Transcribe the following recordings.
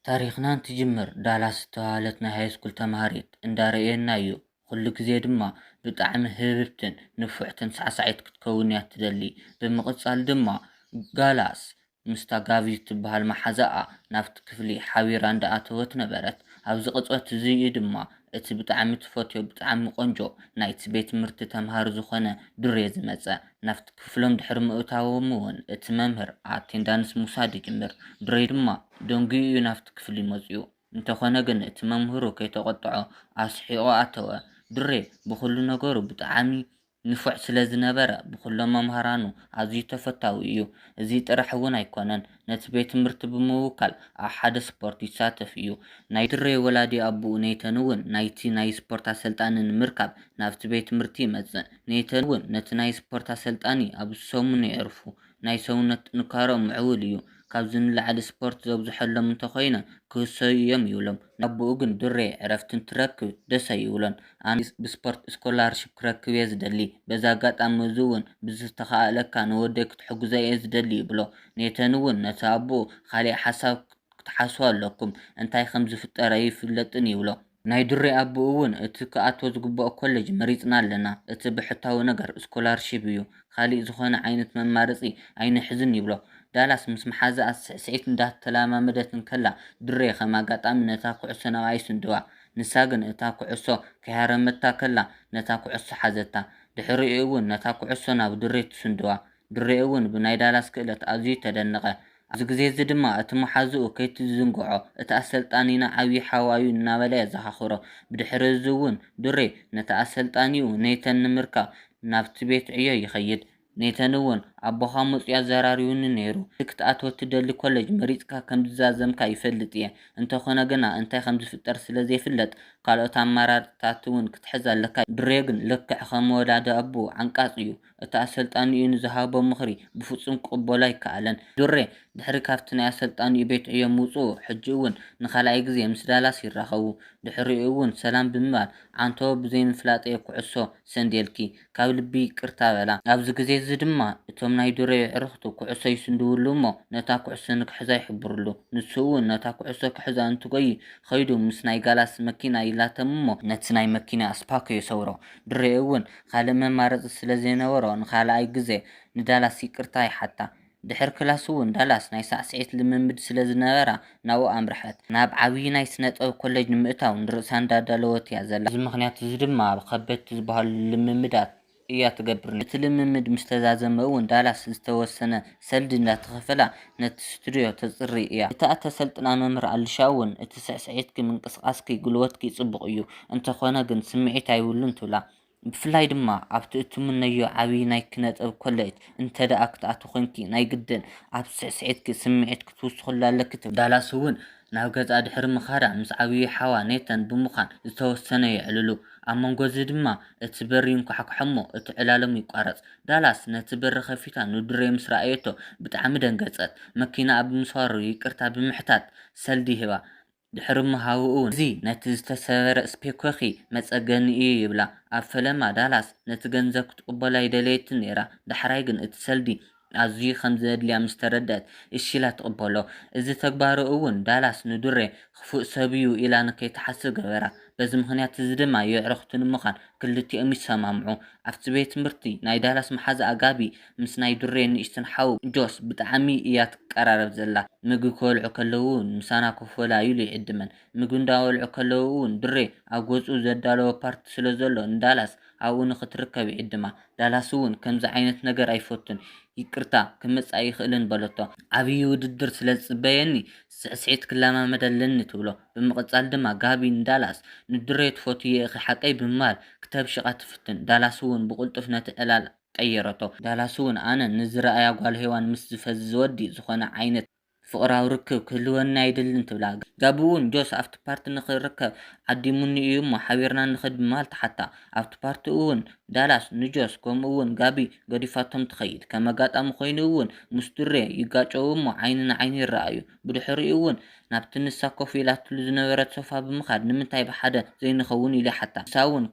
ታሪኽና እንትጅምር ዳላስ ዝተባህለት ናይ ሃይስኩል ተማሃሪት እንዳረኣየና'ዩ። ኹሉ ግዜ ድማ ብጣዕሚ ህብብትን ንፉዕትን ሳዕሳዒት ክትከውን'ያ እትደሊ። ብምቕጻል ድማ ዳላስ ምስታ ጋቪ እትባሃል መሓዛኣ ናብቲ ክፍሊ ሓቢራ እንዳኣተወት ነበረት። ኣብዚ ቅጽበት እዚ'ዩ ድማ እቲ ብጣዕሚ ትፈትዮ ብጣዕሚ ቆንጆ ናይቲ ቤት ትምህርቲ ተማሃሪ ዝኾነ ዱሬ ዝመጸ። ናብቲ ክፍሎም ድሕሪ ምእታዎም'ውን እቲ መምህር ኣቴንዳንስ ምውሳድ ይጅምር። ድሬ ድማ ደንጊዩ'ዩ ናብቲ ክፍሊ መጺኡ። እንተኾነ ግን እቲ መምህሩ ከይተቖጥዖ ኣስሒቑ ኣተወ። ድሬ ብኹሉ ነገሩ ብጣዕሚ ንፉዕ ስለዝነበረ ብኹሎም መምሃራኑ ኣዝዩ ተፈታዊ እዩ። እዚ ጥራሕ'ውን ኣይኮነን። ነቲ ቤት ትምህርቲ ብምውካል ኣብ ሓደ ስፖርት ይሳተፍ እዩ። ናይ ድሬ ወላዲ ኣቡኡ ኔይተን እውን ናይቲ ናይ ስፖርት ኣሰልጣኒ ንምርካብ ናብቲ ቤት ትምህርቲ ይመጽእ። ኔይተን እውን ነቲ ናይ ስፖርት ኣሰልጣኒ ኣብ ዝሰሙኑ የዕርፉ። ናይ ሰውነት ጥንካረኦም ምዕቡል እዩ። ካብዚ ንላዕሊ ስፖርት ዘብዝሖሎም እንተኾይነ ክህሰዩ እዮም ይብሎም። ነኣቡኡ ግን ዱሬ ዕረፍቲ እንትረክብ ደስ ኣይብሎን። ኣነ ብስፖርት ስኮላርሺፕ ክረክብ'የ ዝደሊ። በዚ ኣጋጣሚ'ዚ እውን ብዝተኻእለካ ንወደይ ክትሕግዞ'የ ዝደሊ ይብሎ። ኔተን እውን ነቲ ኣቡኡ ኻሊእ ሓሳብ ክትሓስቡ ኣለኩም፣ እንታይ ከም ዝፍጠር ኣይፍለጥን ይብሎ። ናይ ዱሬ ኣቡኡ እውን እቲ ክኣትዎ ዝግብኦ ኮሌጅ መሪፅና ኣለና፣ እቲ ብሕታዊ ነገር ስኮላርሺፕ እዩ፣ ኻሊእ ዝኾነ ዓይነት መማረፂ ኣይንሕዝን ይብሎ። ዳላስ ምስ መሓዝኣ ስዕስዒት እንዳተለማመደት እንከላ ድሬ ከም ኣጋጣሚ ነታ ኩዕሶ ናብኣ ይስንድዋ። ንሳ ግን እታ ኩዕሶ ከይሃረመታ ከላ ነታ ኩዕሶ ሓዘታ። ድሕሪኡ እውን ነታ ኩዕሶ ናብ ድሬ ትስንድዋ። ድሬ እውን ብናይ ዳላስ ክእለት ኣዝዩ ተደነቐ። ኣብዚ ግዜ'ዚ ድማ እቲ መሓዝኡ ከይትዝንግዖ፣ እቲ ኣሰልጣኒና ዓብዪ ሓዋ'ዩ እናበለ የዘኻኽሮ። ብድሕሪ'ዚ'ውን ዱሬ ነቲ ኣሰልጣኒኡ ነይተን ንምርካብ ናብቲ ቤት ዕዮ ይኸይድ። ነይተን'ውን ኣቦኻ መጺኡ ኣዘራሪቡኒ ነይሩ። እቲ ክትኣትዎ እትደሊ ኮለጅ መሪጽካ ከም ዝዛዘምካ ይፈልጥ'የ። እንተኾነ ግና እንታይ ከም ዝፍጠር ስለ ዘይፍለጥ ካልኦት ኣማራጺታት'ውን ክትሕዝ ኣለካ። ዱሬ ግን ልክዕ ከም ወላዲ ኣቦኡ ዓንቃጽ'ዩ። እቲ ኣሰልጣኒኡ ንዝሃቦ ምኽሪ ብፍጹም ክቕበሎ ኣይከኣለን። ዱሬ፣ ድሕሪ ካብቲ ናይ ኣሰልጣኒኡ ቤት ዕዮ ምውጽኡ፣ ሕጂ'ውን ንኻልኣይ ግዜ ምስ ዳላስ ይራኸቡ። ድሕሪኡ'ውን ሰላም ብምባል፣ ዓንተቦ ብዘይምፍላጠይ'የ ኩዕሶ ሰንዴልኪ። ካብ ልቢ ይቅርታ በላ። ኣብዚ ግዜ'ዚ ድማ እቶም ናይ ዱሬ የዕሩኽቱ ኩዕሶ ይስንድውሉ'ሞ ነታ ኩዕሶ ንክሕዛ ይሕብርሉ። ንሱ'ውን ነታ ኩዕሶ ክሕዛ እንትጎዪ ኸይዱ ምስ ናይ ጋላስ መኪና ይላተም'ሞ፣ ነቲ ናይ መኪና ኣስፓኮ የሰውሮ። ዱሬ'ውን ኻልእ መማረፂ ስለ ዘይነበሮ ንኻልኣይ ግዘ ንዳላስ ይቅርታ ይሓታ። ድሕሪ ክላስ እውን ዳላስ ናይ ሳዕስዒት ልምምድ ስለ ዝነበራ ናብኡ ኣምርሐት። ናብ ዓብዪ ናይ ስነ ጥበብ ኮሌጅ ንምእታው ንርእሳ እንዳዳለወት እያ ዘላ። በዚ ምኽንያት እዚ ድማ ኣብ ኸበድቲ ዝበሃሉ ልምምዳት እያ ትገብር ነይራ። እቲ ልምምድ ምስ ተዛዘመ እውን ዳላስ ዝተወሰነ ሰልዲ እንዳተኸፈላ ነቲ ስቱድዮ ተጽሪ እያ። እታ እተሰልጥና መምህር ኣሊሻ እውን፣ እቲ ስዕስዒትኪ፣ ምንቅስቓስኪ፣ ጕልበትኪ ጽቡቕ እዩ፣ እንተዀነ ግን ስምዒት ኣይብሉን ትብላ። ብፍላይ ድማ ኣብቲ እትምነዮ ዓብዪ ናይ ኪነጥበብ ኮለጅ እንተድኣ ክትኣትዊ ዄንኪ፣ ናይ ግድን ኣብ ስዕስዒትኪ ስምዒት ክትውስኽሉ ኣለኪ ትብል። ዳላስ እውን ናብ ገዝኣ ድሕሪ ምኻዳ ምስ ዓብዪ ሓዋ ኔተን ብምዃን ዝተወሰነ የዕልሉ። ኣብ መንጎ እዚ ድማ እቲ በሪ ይንኳሕኳሕ እሞ እቲ ዕላሎም ይቋረጽ። ዳላስ ነቲ በሪ ከፊታ ንድሬ ምስ ረኣየቶ ብጣዕሚ ደንገጸት። መኪናኣ ብምስባሩ ይቅርታ ብምሕታት ሰልዲ ሂባ። ድሕሪ ምሃቡ'ውን እዚ ነቲ ዝተሰበረ ስፔኮኪ መጸገኒ እዩ ይብላ። ኣብ ፈለማ ዳላስ ነቲ ገንዘብ ክትቅበሎ ኣይደለየትን ነይራ። ዳሕራይ ግን እቲ ሰልዲ ኣዝዩ ከም ዘድልያ ምስ ተረድኣት እሺ ኢላ ትቅበሎ። እዚ ተግባሩ'ውን ዳላስ ንድሬ ክፉእ ሰብ'ዩ ኢላ ንከይትሓስብ ገበራ። በዚ ምኽንያት እዚ ድማ የዕርኽቲ ንምዃን ክልቲኦም ይሰማምዑ። ኣብቲ ቤት ትምህርቲ ናይ ዳላስ መሓዛኣ ጋቢ ምስ ናይ ዱሬ ንእሽተን ሓው ጆስ ብጣዕሚ እያ ትቀራረብ ዘላ። ምግቢ ክበልዑ ከለዉ እውን ምሳና ኮፍ በላ ኢሉ ይዕድመን። ምግቢ እንዳበልዑ ከለዉ እውን ዱሬ ኣብ ገዝኡ ዘዳለዎ ፓርቲ ስለ ዘሎ ንዳላስ ኣብኡ ንኽትርከብ ይዕድማ። ዳላስ እውን ከምዚ ዓይነት ነገር ኣይፈቱን። ይቅርታ ክመጽእ ኣይኽእልን በለቶ። ዓብዪ ውድድር ስለ ዝጽበየኒ ስዕስዒት ክለማመድ ኣለኒ ትብሎ። ብምቕጻል ድማ ጋቢ ንዳላስ ንድሬ ትፈትውዮ ኢኺ ሓቀይ ብምባል ክተብሽቓ ትፍትን። ዳላስ'ውን ብቕልጡፍ ነቲ ዕላል ቀየረቶ። ዳላስ'ውን ኣነ ንዝርኣያ ጓል ሄዋን ምስ ዝፈዝዝ ወዲ ዝኾነ ዓይነት ፍቕራዊ ርክብ ክህልወኒ ኣይደልን ትብላ። ጋቢ'ውን ጆስ ኣብቲ ፓርቲ ንኽርከብ ዓዲሙኒ እዩ'ሞ ሓቢርና ንኽድ ብምባል ትሓታ። ኣብቲ ፓርቲ እውን ዳላስ ንጆስ ከምኡ እውን ጋቢ ገዲፋቶም ትኸይድ። ከም ኣጋጣሚ ኮይኑ እውን ምስ ዱሬ ይጋጨዉ እሞ ዓይኒ ንዓይኒ ይረኣዩ። ብድሕሪኡ እውን ናብቲ ንሳ ኮፍ ኢላትሉ ዝነበረት ሶፋ ብምኻድ ንምንታይ ብሓደ ዘይንኸውን ኢሉ ይሓታ። ንሳ እውን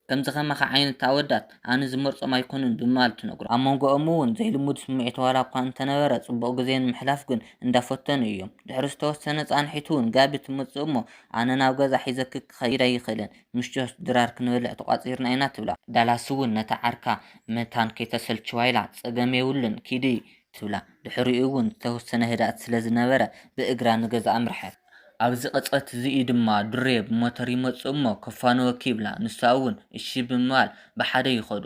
ከምዚ ከማኻ ዓይነት ኣወዳት ኣነ ዝመርጾም ኣይኮኑን ብምባል ትነግሮ። ኣብ መንጎኦም እውን ዘይልሙድ ስምዒት ዋላ እኳ እንተነበረ ጽቡቕ ግዜ ንምሕላፍ ግን እንዳፈተኑ እዮም። ድሕሪ ዝተወሰነ ጻንሒት እውን ጋቢ ትመጽእ እሞ ኣነ ናብ ገዛ ሒዘኪ ክኸይድ ኣይኽእልን ምስ ጆርጅ ድራር ክንበልዕ ተቋጺርና ኢና ትብላ። ዳላስ'ውን ነታ ዓርካ መታን ከይተሰልችዋ ኢላ ጸገም የብሉን ኪዲ ትብላ። ድሕሪኡ'ውን ዝተወሰነ ህድኣት ስለ ዝነበረ ብእግራ ንገዝኣ ኣምርሐት። ኣብዚ ቅጽበት'ዚ'ዩ ድማ ዱሬ ብሞተር ይመጽእ'ሞ ከፋንወኪ ይብላ። ንሳ'ውን እሺ ብምባል ብሓደ ይኸዱ።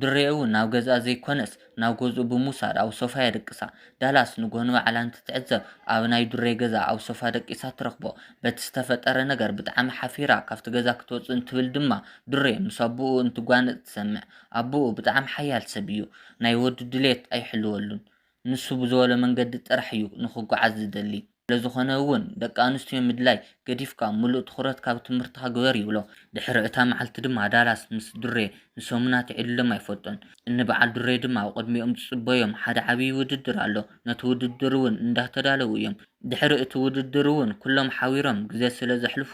ድሬ እውን ናብ ገዝኣ ዘይኮነስ ናብ ገዝኡ ብምውሳድ ኣብ ሶፋ የደቅሳ። ዳላስ ንጎሆ ንባዕላ እንትትዕዘብ ኣብ ናይ ድሬ ገዛ ኣብ ሶፋ ደቂሳ ትረኽቦ። በቲ ዝተፈጠረ ነገር ብጣዕሚ ሓፊራ ካብቲ ገዛ ክትወፅእ እንትብል ድማ ድሬ ምስ ኣቡኡ እንትጓነፅ ትሰምዕ። ኣቡኡ ብጣዕሚ ሓያል ሰብ እዩ። ናይ ወዱ ድሌት ኣይሕልወሉን። ንሱ ብዝበሎ መንገዲ ጥራሕ እዩ ንኽጎዓዝ ዝደሊ። ስለዝኾነ እውን ደቂ ኣንስትዮ ምድላይ ገዲፍካ ምሉእ ትኹረትካ ኣብ ትምህርትኻ ግበር ይብሎ። ድሕሪ እታ መዓልቲ ድማ ዳላስ ምስ ዱሬ ንሰሙናት ይዕልሎም ኣይፈልጡን። እኒ በዓል ዱሬ ድማ ኣብ ቅድሚኦም ዝፅበዮም ሓደ ዓብዪ ውድድር ኣሎ። ነቲ ውድድር እውን እንዳተዳለዉ እዮም። ድሕሪ እቲ ውድድር እውን ኩሎም ሓቢሮም ግዘ ስለዘሕልፉ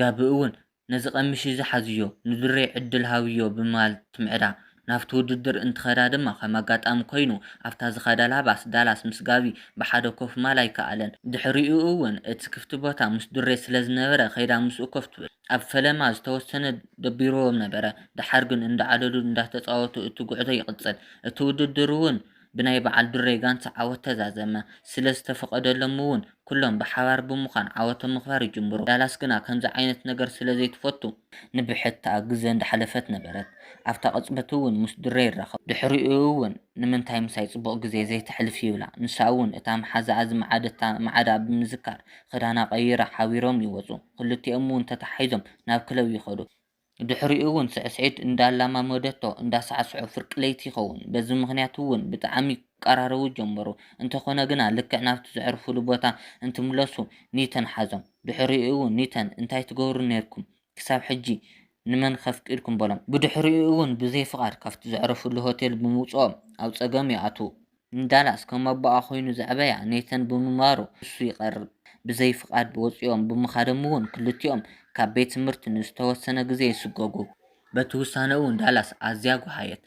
ጋቢ እውን ነዚ ቀምሽ እዚ ሓዝዮ፣ ንድሬ ዕድል ሃብዮ ብምባል ትምዕዳ። ናብቲ ውድድር እንትኸዳ ድማ ከም ኣጋጣሚ ኮይኑ ኣብታ ዝኸዳላ ባስ፣ ዳላስ ምስ ጋቢ ብሓደ ኮፍ ምባል ኣይከኣለን። ድሕሪኡ እውን እቲ ክፍቲ ቦታ ምስ ድሬ ስለ ዝነበረ ከይዳ ምስኡ ኮፍ ትብል። ኣብ ፈለማ ዝተወሰነ ደቢርዎም ነበረ፣ ደሓር ግን እንዳዓለሉ እንዳተጻወቱ እቲ ጉዕዞ ይቕጽል። እቲ ውድድር እውን ብናይ በዓል ዱሬ ጋንታ ዓወት ተዛዘመ። ስለ ዝተፈቐደሎም'ውን ኩሎም ብሓባር ብምዃን ዓወቶም ምኽባር ይጅምሩ። ዳላስ ግና ከምዚ ዓይነት ነገር ስለ ዘይትፈቱ። ንብሕታ ግዘ እንዳሓለፈት ነበረት። ኣብታ ቅጽበት'ውን ምስ ዱሬ ይራኸቡ። ድሕሪኡ'ውን ንምንታይ ምሳይ ጽቡቕ ግዜ ዘይተሕልፊ ይብላ። ንሳ'ውን እታ መሓዛኣ ዝመዓደታ መዓዳ ብምዝካር ክዳና ቀይራ ሓቢሮም ይወጹ። ክልቲኦም'ውን ተተሓሒዞም ናብ ክለብ ይኸዱ። ድሕሪኡ'ውን ስዕስዒት እንዳኣላማመደቶ እንዳሳዕስዑ ፍርቂ ለይቲ ይኸውን። በዚ ምኽንያት'ውን ብጣዕሚ ክቀራረቡ ጀመሩ። እንተኾነ ግና ልክዕ ናብቲ ዘዕርፉሉ ቦታ እንትምለሱ ኒተን ሓዞም። ድሕሪኡ'ውን ኒተን እንታይ ትገብሩ ኔርኩም ክሳብ ሕጂ ንመን ከፍቂድኩም በሎም። ብድሕሪኡ'ውን ብዘይ ፍቓድ ካብቲ ዘዕረፉሉ ሆቴል ብምውጽኦም ኣብ ጸገም ይኣትዉ። ንዳላስ ከም ኣቦኣ ኮይኑ ዘዕበያ ኔተን ብምንባሩ ንሱ ይቐርብ። ብዘይ ፍቓድ ወጺኦም ብምኻዶም'ውን ክልቲኦም ካብ ቤት ትምህርቲ ንዝተወሰነ ግዜ ይስጎጉ። በቲ ውሳነኡ'ውን ዳላስ ኣዝያ ጐሃየት።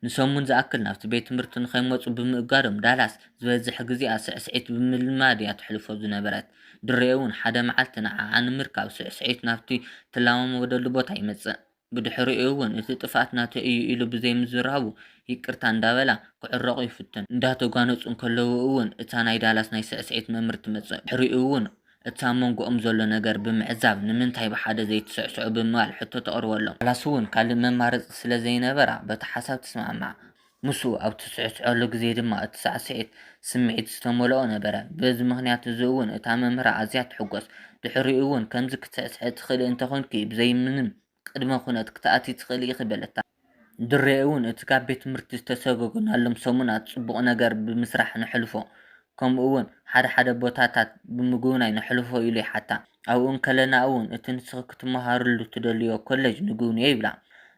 ንሰሙን ዝኣክል ናብቲ ቤት ትምህርቲ ንኸይመጹ ብምእጋዶም ዳላስ ዝበዝሕ ግዜኣ ስዕስዒት ብምልማድ'ያ ተሕልፎ ዝነበረት። ድሬ'ውን ሓደ መዓልቲ ንዓዓ ንምርካብ ስዕስዒት ናብቲ ትለማመደሉ ቦታ ይመጽእ። ብድሕሪኡ'ውን እቲ ጥፍኣት ናተይ እዩ ኢሉ ብዘይምዝራቡ ይቅርታ እንዳበላ ክዕረቑ ይፍትኑ። እንዳተጓነጹ እንከለዉ'ውን እታ ናይ ዳላስ ናይ ስዕስዒት መምህር ትመጽእ። ብድሕሪኡ'ውን እቲ ኣብ መንጎኦም ዘሎ ነገር ብምዕዛብ ንምንታይ ብሓደ ዘይትስዕስዑ ብምባል ሕቶ ተቕርበሎም። ዳላስ'ውን ካልእ መማረጺ ስለዘይነበራ በቲ ሓሳብ ትስማዕማዕ። ምስኡ ኣብ እትስዕስዐሉ ግዜ ድማ እቲ ሳዕስዒት ስምዒት ዝተመልኦ ነበረ። በዚ ምኽንያት እዚ እውን እታ መምህራ ኣዝያ ትሕጐስ። ድሕሪኡ እውን ከምዚ ክትስዕስዒ ትኽእሊ እንተ ዄንኪ ብዘይ ምንም ቅድመ ዅነት ክትኣትዪ ትኽእሊ ኢኺ በለታ። ድሬ እውን እቲ ካብ ቤት ትምህርቲ ዝተሰጐጐናሎም ሰሙናት ጽቡቕ ነገር ብምስራሕ ነሕልፎ ከምኡውን ሓደ ሓደ ቦታታት ብምጉብናይ ነሕልፎ ኢሉ ይሓታ። ኣብኡ እንከለና'ውን እቲ ንስኺ ክትመሃርሉ ትደልይዮ ኮለጅ ንጉብንዮ ይብላ።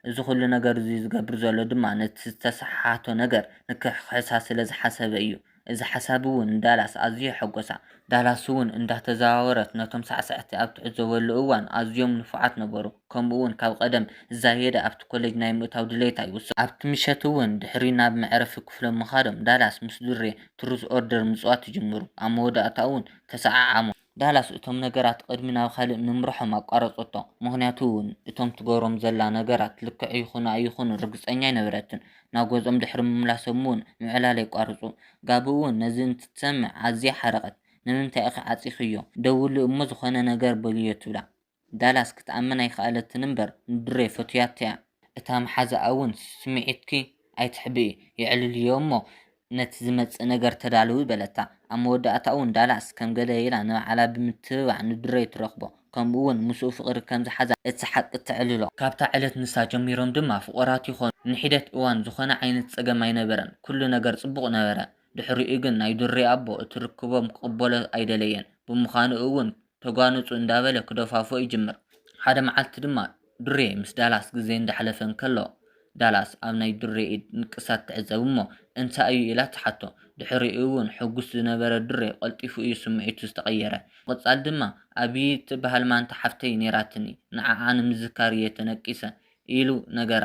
እዚ ኹሉ ነገር እዚ ዝገብር ዘሎ ድማ ነቲ ዝተሰሓሓቶ ነገር ንክሕኽሕሳ ስለ ዝሓሰበ እዩ። እዚ ሓሳብ'ውን ንዳላስ ኣዝዩ ኣሐጐሳ። ዳላስ'ውን እንዳተዘዋወረት ነቶም ሳዕሳዕቲ ኣብ ትዕዘበሉ እዋን ኣዝዮም ንፉዓት ነበሩ። ከምኡውን ካብ ቐደም ዝዛየደ ኣብቲ ኮለጅ ናይ ምእታው ድሌታ ይውስኽ። ኣብቲ ምሸት'ውን ድሕሪ ናብ መዕረፊ ክፍሎም ምኻዶም ዳላስ ምስ ዱሬ ትሩዝ ኦርደር ምጽዋት ይጅምሩ፣ ኣብ መወዳእታኡ'ውን ተሰዓዓሙ። ዳላስ እቶም ነገራት ቕድሚ ናብ ኻልእ ምምርሖም ኣቋረጸቶ፣ ምኽንያቱ እቶም ትገብሮም ዘላ ነገራት ልክዕ ይኹኑ ኣይኹኑ ርግጸኛ ኣይነበረትን። ናብ ገዝኦም ድሕሪ ምምላሶም'ውን ምዕላል የቋርጹ። ጋቢ'ውን ነዚ እንትትሰምዕ ኣዝያ ሓረቐት። ንምንታይ ኢኺ ዓጺኺዮ? ደውሊ እሞ ዝኾነ ነገር በልዮ ትብላ። ዳላስ ክትኣምን ኣይከኣለትን እምበር ንድሬ ፈቱያቶ'ያ። እታ መሓዛኣ ውን ስምዒትኪ ኣይተሕብኢ የዕልልዮ እሞ ነቲ ዝመጽእ ነገር ተዳለዊ በለታ። ኣብ መወዳእታኡ ውን ዳላስ ከም ገለ ኢላ ንባዕላ ብምትብባዕ ንድሬ ትረኽቦ ከምኡ ውን ምስኡ ፍቕሪ ከም ዝሓዛ እቲ ሓቂ ተዕልሎ። ካብታ ዕለት ንሳ ጀሚሮም ድማ ፍቑራት ይኾኑ። ንሒደት እዋን ዝኾነ ዓይነት ጸገም ኣይነበረን ኩሉ ነገር ጽቡቕ ነበረ። ድሕሪኡ ግን ናይ ድሬ ኣቦ እቲ ርክቦም ክቕበሎ ኣይደለየን። ብምዃኑ እውን ተጓነጹ እንዳበለ ክደፋፍኦ ይጅምር። ሓደ መዓልቲ ድማ ዱሬ ምስ ዳላስ ግዜ እንዳሕለፈ እንከሎ ዳላስ ኣብ ናይ ዱሬ ኢድ ንቅሳት ትዕዘብ እሞ እንታይ እዩ ኢላ ትሓቶ። ድሕሪኡ እውን ሕጉስ ዝነበረ ዱሬ ቀልጢፉ እዩ ስምዒቱ ዝተቐየረ። ብምቕጻል ድማ ኣብይ እትበሃል ማንታ ሓፍተይ ኔራትኒ ንዓዓ ንምዝካር እየ ተነቂሰ ኢሉ ነገራ።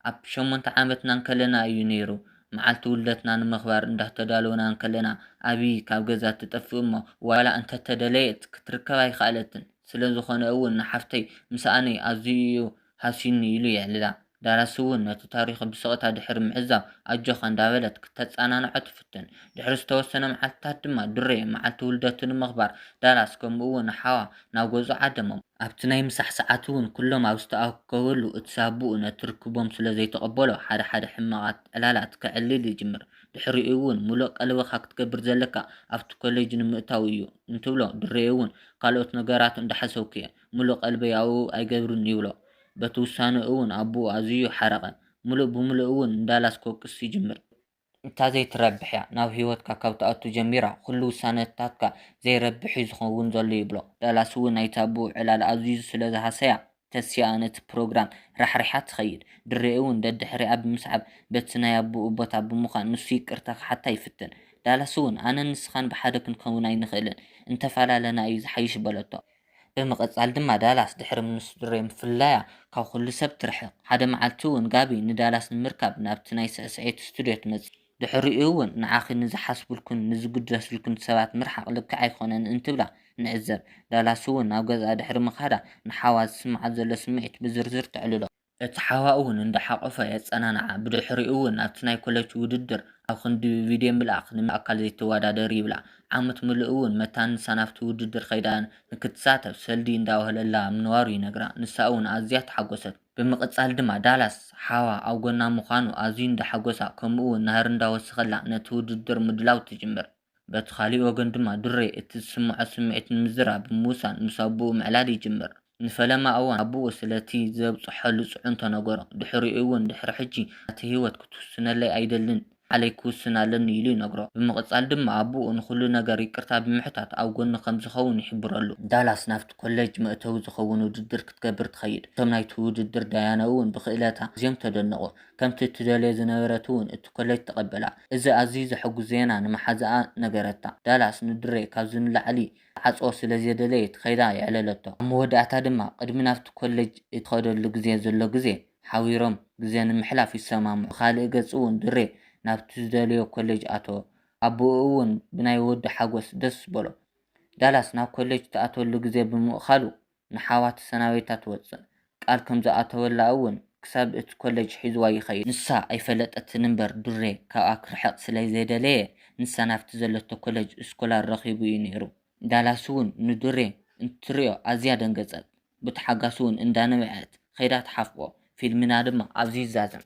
ኣብ ሸሞንተ ዓመትና እንከለና እዩ ነይሩ። መዓልቲ ውልደትና ንምኽባር እንዳተዳለውና እንከለና ኣብይ ካብ ገዛ ትጠፍእ እሞ ዋላ እንተተደለየት ክትርከብ ኣይኸኣለትን። ስለዝኾነ እውን ንሓፍተይ ምስኣነይ ኣዝዩ እዩ ሃስዩኒ ኢሉ የዕልላ። ዳራሲ እውን ነቲ ታሪኹ ብስቕታ ድሕሪ ምዕዛብ ኣጆኻ እንዳበለት ክተጸናንዖ ትፍትን። ድሕሪ ዝተወሰነ መዓልትታት ድማ ድሬ መዓልቲ ውልደቱ ንምኽባር ዳራስ ከምኡ እውን ሓዋ ናብ ገዝኡ ዓደሞም። ኣብቲ ናይ ምሳሕ ሰዓት'ውን ኩሎም ኣብ ዝተኣከበሉ እቲ ሳቡኡ ነቲ ርክቦም ስለ ዘይተቐበሎ ሓደ ሓደ ሕማቓት ዕላላት ከዕልል ይጅምር። ድሕሪኡ'ውን ምሉእ ቀልብኻ ክትገብር ዘለካ ኣብቲ ኮሌጅ ንምእታው'ዩ እንትብሎ ድሬ'ውን ካልኦት ነገራት እንዳሓሰብኩ'የ ምሉእ ቀልበይ ኣብኡ ኣይገብርን ይብሎ። በቲ ውሳነኡ'ውን ኣቡኡ ኣዝዩ ሓረቐ። ምሉእ ብምሉእ'ውን ንዳላስ ክወቅስ ይጅምር። እታ ዘይትረብሕ'ያ ናብ ህይወትካ ካብ ትኣቱ ጀሚራ ኹሉ ውሳነታትካ ዘይረብሕ'ዩ ዝኸውን ዘሎ ይብሎ። ዳላስ'ውን ናይታ ኣብኡ ዕላል ኣዚዙ ስለ ዝሃሰያ ተሲኣ ነቲ ፕሮግራም ራሕሪሓ ትኸይድ። ድሬ'ውን ደድሕሪኣ ብምስዓብ በቲ ናይ ኣቡኡ ቦታ ብምዃን ንሱ ይቅርታ ክሓታ ይፍትን። ዳላስ'ውን ኣነን ንስኻን ብሓደ ክንከውን ኣይንኽእልን እንተፈላለና'ዩ ዝሓይሽ በለቶ። ብምቕጻል ድማ ዳላስ ድሕሪ ምንስድሮይ ምፍላያ ካብ ኹሉ ሰብ ትርሕቕ። ሓደ መዓልቲ እውን ጋቢ ንዳላስ ንምርካብ ናብቲ ናይ ስዕስዒት ስቱድዮ ትመጽእ። ድሕሪኡ እውን ንዓኺ ንዝሓስቡልኩን ንዝግደሱልኩን ሰባት ምርሓቕ ልክዕ ኣይኮነን እንትብላ ንዕዘብ። ዳላስ እውን ናብ ገዝኣ ድሕሪ ምኻዳ ንሓዋ ዝስምዓ ዘሎ ስምዒት ብዝርዝር ተዕልሎ። እቲ ሓዋኡ እውን እንዳሓቖፈ የጸናንዓ፣ ብድሕሪኡ እውን ኣብቲ ናይ ኮለች ውድድር ኣብ ክንዲ ብቪድዮ ምልኣኽ ንኣካል ዘይትወዳደሪ ይብላ፣ ዓመት ምሉእ እውን መታን ንሳ ናብቲ ውድድር ከይዳ ንክትሳተፍ ሰልዲ እንዳወህለላ ምንባሩ ይነግራ፣ ንሳ እውን ኣዝያ ተሓጎሰት። ብምቕጻል ድማ ዳላስ ሓዋ ኣብ ጎና ምዃኑ ኣዝዩ እንዳሓጎሳ ከምኡ እውን ናህሪ እንዳወሰኸላ ነቲ ውድድር ምድላው ትጅምር። በቲ ኻሊእ ወገን ድማ ድሬ እቲ ዝስምዖ ስምዒት ንምዝራብ ብምውሳን ምስ ኣቡኡ ምዕላል ይጅምር። ንፈለማ እዋን ኣቡኡ ስለቲ ዘብጽሖሉ ጽዕንቶ ነገሮ። ድሕሪኡ'ውን ድሕሪ ሕጂ ናተይ ህይወት ክትውስነለይ ኣይደልን ባዕለይ ክውስን ኣለኒ ኢሉ ይነግሮ። ብምቕጻል ድማ ኣቡኡ ንኹሉ ነገር ይቅርታ ብምሕታት ኣብ ጎኑ ከም ዝኸውን ይሕብረሉ። ዳላስ ናብቲ ኮለጅ መእተዊ ዝኸውን ውድድር ክትገብር ትኸይድ። እቶም ናይቲ ውድድር ዳያኑ'ውን ብክእለታ ኣዝዮም ተደነቑ። ከምቲ እትደልዮ ዝነበረት እውን እቲ ኮለጅ ተቐበላ። እዚ ኣዝዩ ዘሐጕስ ዜና ንምሓዝኣ ነገረታ። ዳላስ ንድሬ ካብዚ ንላዕሊ ክትዓጽዎ ስለ ዘይደለየት ከይዳ የዕለለቶ። ኣብ መወዳእታ ድማ ቅድሚ ናብቲ ኮለጅ እትኸደሉ ግዜ ዘሎ ግዜ ሓቢሮም ግዜ ንምሕላፍ ይሰማምዑ። ብኻልእ ገጽ እውን ድሬ ናብቲ ዝደለዮ ኮለጅ ኣተወ። ኣቦኡ እውን ብናይ ወዱ ሓጐስ ደስ በሎ። ዳላስ ናብ ኮለጅ እትኣትወሉ ግዜ ብምእካሉ ንሓዋ ተሰናቢታ ትወጽእ። ቃል ከም ዝኣተወላ እውን ክሳብ እቲ ኮለጅ ሒዙዋ ይኸይድ። ንሳ ኣይፈለጠትን እምበር ዱሬ ካብኣ ክርሕቕ ስለ ዘይደለየ ንሳ ናብቲ ዘለቶ ኮለጅ እስኮላር ረኺቡ እዩ ነይሩ። ዳላስ እውን ንዱሬ እንትትሪኦ ኣዝያ ደንገጸት። ብተሓጋስ እውን እንዳነብዐት ከይዳ ትሓፍቆ። ፊልምና ድማ ኣብዚ ይዛዘም።